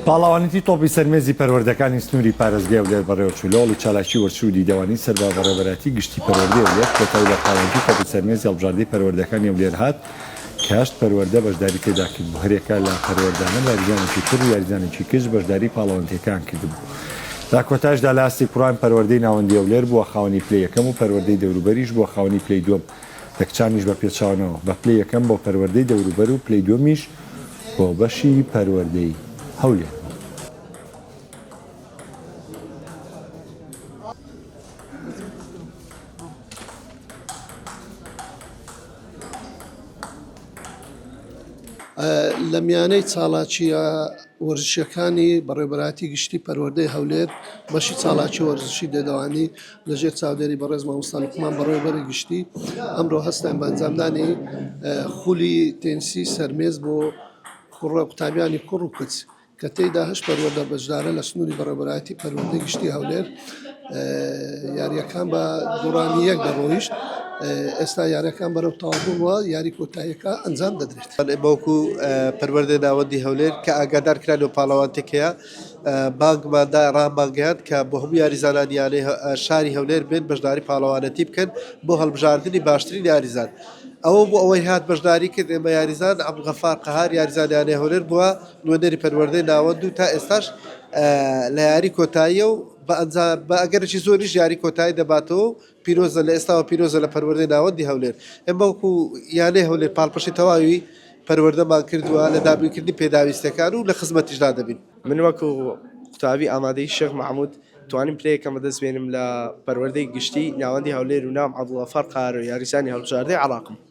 پاڵەوانێتی تۆپی سەر مێزی پەروەردەکانی سنووری پارێزگای هەولێر بەڕێوەچوو لە هەوڵی چالاکی وەرچی و دیدەوانی سەر بە بەڕێوەبەرایەتی گشتی پەروەردەی هەولێر کۆتایی بە پاڵەوانێتی تۆپی سەر مێزی هەڵبژاردەی پەروەردەکانی هەولێر هات کە هەشت پەروەردە بەشداری تێدا کردبوو هەرێکە لە پەروەردانە لە یاریزانێکی کوڕ و یاریزانێکی کچ بەشداری پاڵەوانتیەکان کردبوو لە کۆتایشدا لە ئاستی کوڕان پەروەردەی ناوەندی هەولێر بووە خاوەنی پلەی یەکەم و پەروەردەی دەوروبەریش بووە خاوەنی پلەی دووەم یەکچامیش بە پێچەوانەوە، بە پلەی یەکەم بۆ پەروەردەی دەوروبەر و پلەی دووەمیش بۆ بەشی پەروەردەی هەولێر بوو. لە میانەی چاڵاچییە وەرزشییەکانی بەڕێوەبەرایەتی گشتی پەروەردەی هەولێر، بەشی چاڵاکی وەرزشی دێدەوانی، لەژێر چاودێری بەڕێز مامۆستا لوقمان بەڕێوەبەری گشتی ئەمڕۆ هەستان بە ئەنجامدانی خولی تێنسی سەرمێز بۆ کوڕە قوتابیانی کوڕ و کچ کە تێیدا هەش پەروەدە بەشدارە لە سنووری بەڕێبەرایەتی پەروەندەی گشتی هەولێر یاریەکان بە دوڕانی یەک دەڕۆیشت ئێستا یارەکان بەرەو تاڵبووە یاری کۆتایەکە ئەنجام دەدرێت بەڵێ بەوکو پەروەردە ناوەندی هەولێر کە ئاگادار کران و پاڵەوانتێکەیە بانگمان دا رامانگەیاند کە بۆ هەموو یاریزانان یانەی شاری هەولێر بێن بەشداری پاڵەوانێتی بکەن بۆ هەڵبژاردنی باشترین یاریزان ئەوە بۆ ئەوەی هات بەشداری کرد ئێمە یاریزان عەبدولغەفار قەهار یاریزان یانەی هەولێر بووە نوێنەری پەروەردەی ناوەند و تا ئێستاش لە یاری کۆتاییە و بە ئەنجام بە ئەگەرێکی زۆریش یاری کۆتایی دەباتەوە و پیرۆزە لە ئێستاوە پیرۆزە لە پەروەردەی ناوەندی هەولێر ئێمە وەکو یانەی هەولێر پاڵپشتی تەواوی پەروەردەمان کردووە لە دابینکردنی پێداویستەکان و لە خزمەتیشدا دەبین من وەکو قوتابی ئامادەی شێخ محمود توانیم پلەیەکەم بەدەست بێنم لە پەروەردەی گشتی ناوەندی هەولێر و ناوم عەبدوڵغەفار قارە یاریزانی هەڵبژاردەی عێراقم.